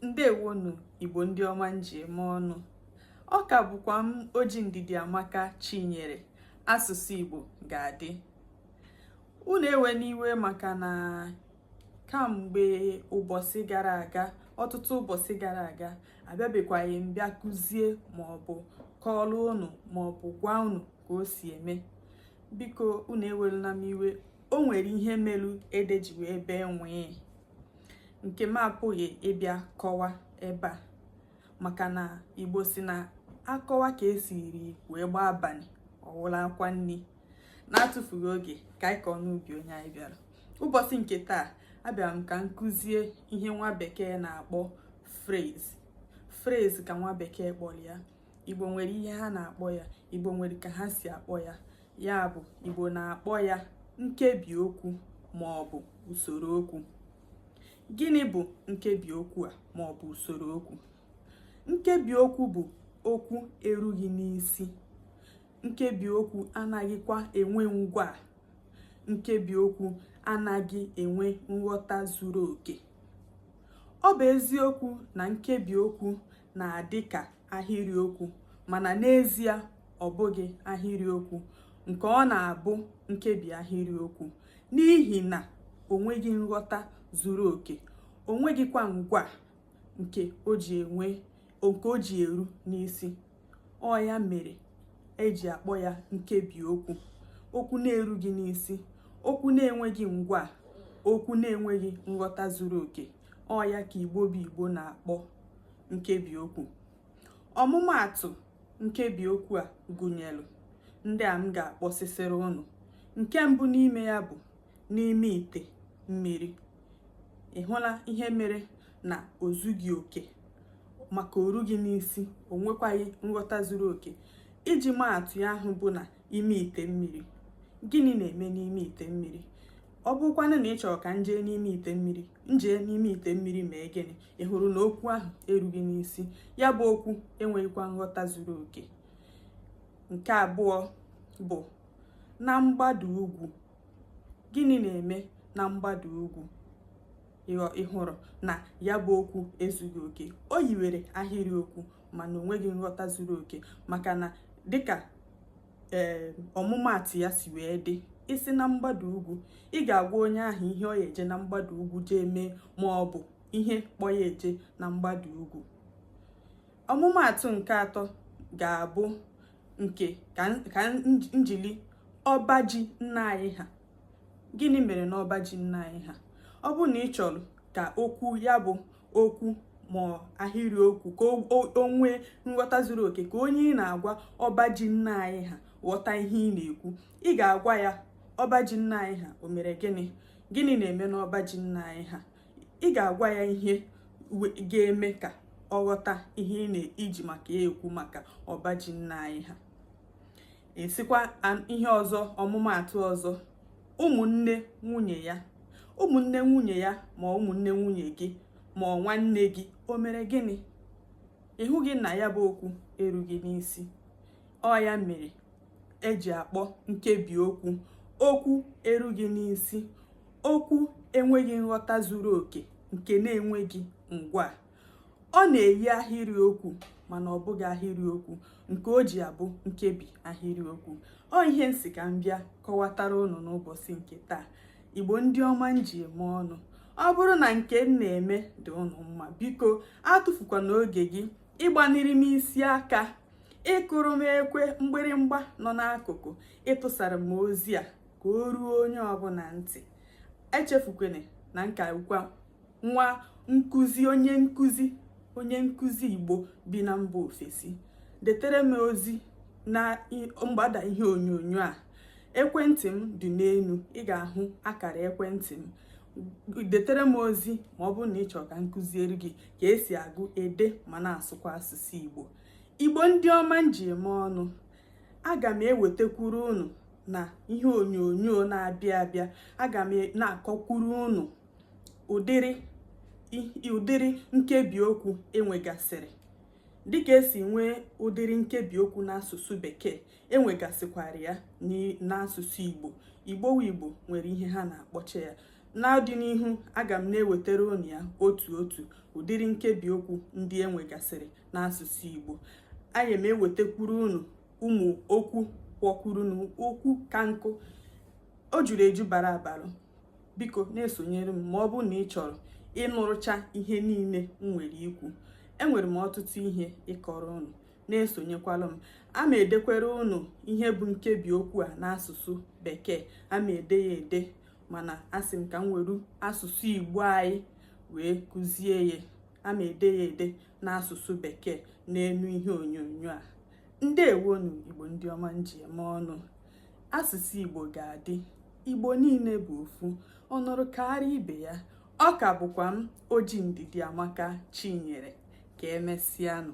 ndewonụ igbo ndị ọma m ji eme ọnụ ọ ka bụkwa m oji ndidi amaka chinyere asụsụ igbo ga-adị unu ewena iwe maka na kamgbe ụbọsị gara aga ọtụtụ ụbọsị gara aga abịabekwaghị m bịa kụzie maọbụ kọọlụ unu maọbụ gwa unu ka o si eme biko unu eweluna m iwe o nwere ihe melu ede ji wee bee nwii nke m apụghị ịbịa kọwa ebe a maka na igbo si na a kọwa ka e siri wee gbaa abanị ọ wụla akwa nni na-atụfughị oge ka anyị kọọ n'ubi onye anyị bịara ụbọsị nke taa abịara m ka m kụzie ihe nwa bekee na-akpọ phrase phrase ka nwa bekee kpọlụ ya igbo nwere ihe ha na-akpọ ya igbo nwere ka ha si akpọ ya ya bụ igbo na-akpọ ya nkebi okwu ma ọ bụ usoro okwu gịnị bụ nkebi okwu a ma ọ bụ usoro okwu nkebi okwu bụ okwu erughị n'isi nkebi okwu anaghịkwa enwe ngwaa nkebi okwu anaghị enwe nghọta zuru oke ọ bụ eziokwu na nkebi okwu na-adị ka ahịrịokwu mana n'ezie ọ bụghị ahịrịokwu nke ọ na-abụ nkebi ahịrịokwu n'ihi na o nweghị nghọta zuru oke o nweghịkwa ngwaa nke o ji eru n'isi ọ ya mere e ji akpọ ya nkebi okwu okwu na-erughị n'isi okwu na-enweghị ngwaa okwu na-enweghị nghọta zuru oke ọ ya ka igbo bụ igbo na-akpọ nkebi okwu ọmụmaatụ nkebi okwu a gụnyelụ ndị a m ga-akpọsịsịrị unu nke mbụ n'ime ya bụ n'ime ite mmiri ị hụla ihe mere na o zughị oke maka o rughị n'isi o nwekwaghị nghọta zuru oke iji maa atụ ya ahụ bụ na ime ite mmiri gịnị na-eme n'ime ite mmiri ọ bụkwanụ na ị chọrọ ka m jee n'ime ite mmiri m jee n'ime ite mmiri mee gịnị ị hụrụ na okwu ahụ erughị n'isi ya bụ okwu enweghịkwa nghọta zuru oke nke abụọ bụ na mgbada ugwu gịnị na-eme na mgbada ugwu ị hụrụ na ya bụ okwu ezughị oke o yiwere ahịrịokwu mana o nweghị nghọta zuru oke maka na dịka ee eh ọmụmaatụ ya si wee dị ị sị na mgbada ugwu ị ga-agwa onye ahụ ihe ọ ya-eje na mgbada ugwu jee mee ma ọ bụ ihe kpọ ya eje na mgbada ugwu ọmụmaatụ nke atọ ga-abụ nke ka njili ọba ji nna anyị ha gịnị mere na ọba ji nna anyị ha ọ bụ na ị chọrọ ka okwu ya bụ okwu ma ahịrị okwu ka o nwee nghọta zuru oke ka onye ị na-agwa ọba ji nna anyị ha ghọta ihe ị na-ekwu ị ga-agwa ya ọba ji nna anyị ha o mere gịnị gịnị na-eme n'ọba ji nna anyị ha ị ga-agwa ya ihe ga-eme ka ọ ghọta ihe ị na-iji maka ya ekwu maka ọba ji nna anyị ha esikwa ihe ọzọ ọmụmaatụ ọzọ ụmụnne nwunye ya ụmụnne nwunye ya ma ụmụnne nwunye gị ma ọ nwanne gị o mere gịnị ị hụghị na ya bụ okwu erughị n'isi ọ ya mere eji akpọ nkebi okwu okwu erughị n'isi okwu enweghị nghọta zuru oke nke na-enweghị ngwaa ọ na-eyi ahịrịokwu mana ọ bụghị ahịrịokwu nke o ji abụ nkebi ahịrịokwu ọ ihe m sị ka m bịa kọwatara unu n'ụbọchị nke taa igbo ndị ọma m ji eme ọnụ ọ bụrụ na nke m na-eme dị unu mma biko atụfukwana oge gị ịgbaniri m isi aka ịkụrụ m ekwe mgbịrịmgba nọ n'akụkụ ịtụsara m ozi a ka o ruo onye ọbụla ntị echefukwene na nke a bụkwa nwa nkụzi onye nkụzi onye nkụzi igbo bi na mba ofesi detere m ozi na mgbada ihe onyonyo a ekwentị m dị n'elu ị ga-ahụ akara ekwentị m detere m ozi ma ọ bụrụ na ị chọrọ ka m kụziere gị ka esi agụ ede ma na-asụkwa asụsụ igbo igbo ndị ọma m ji eme ọnụ aga m ewetakwuru unu na ihe onyonyo na-abịa abịa aga m na-akọkwuru unu ụdịrị nkebi okwu enwegasịrị dịka esi nwee ụdịrị nkebi okwu n'asụsụ bekee enwegasịkwara ya n'asụsụ igbo igbo igbo nwere ihe ha na-akpọcha ya n'ọdịnihu aga m na-ewetara unu ya otu otu ụdịrị nkebi okwu ndị enwegasịrị n'asụsụ igbo anyị m ewetakwuru unu ụmụ okwu kọkwuru unu okwu ka nkụ o juru eju bara abara biko na-esonyere m ma ọ bụ na ị chọrọ ịnụrụcha ihe niile m nwere ikwu enwere m ọtụtụ ihe ịkọrọ unu na-esonyekwala m a ma edekwere unu ihe bụ nkebi okwu a n'asụsụ bekee a ma ede ya ede mana asị m ka m were asụsụ igbo anyị wee kụzie ya a ma ede ya ede n'asụsụ bekee n'elu ihe onyonyo a ndeewonu igbo ndị ọma m ji eme ọnụ asụsụ igbo ga-adị igbo niile bụ ofu o nwerọ karịa ibe ya ọ ka bụkwa m oji ndidiamaka chinyere ka emesịanụ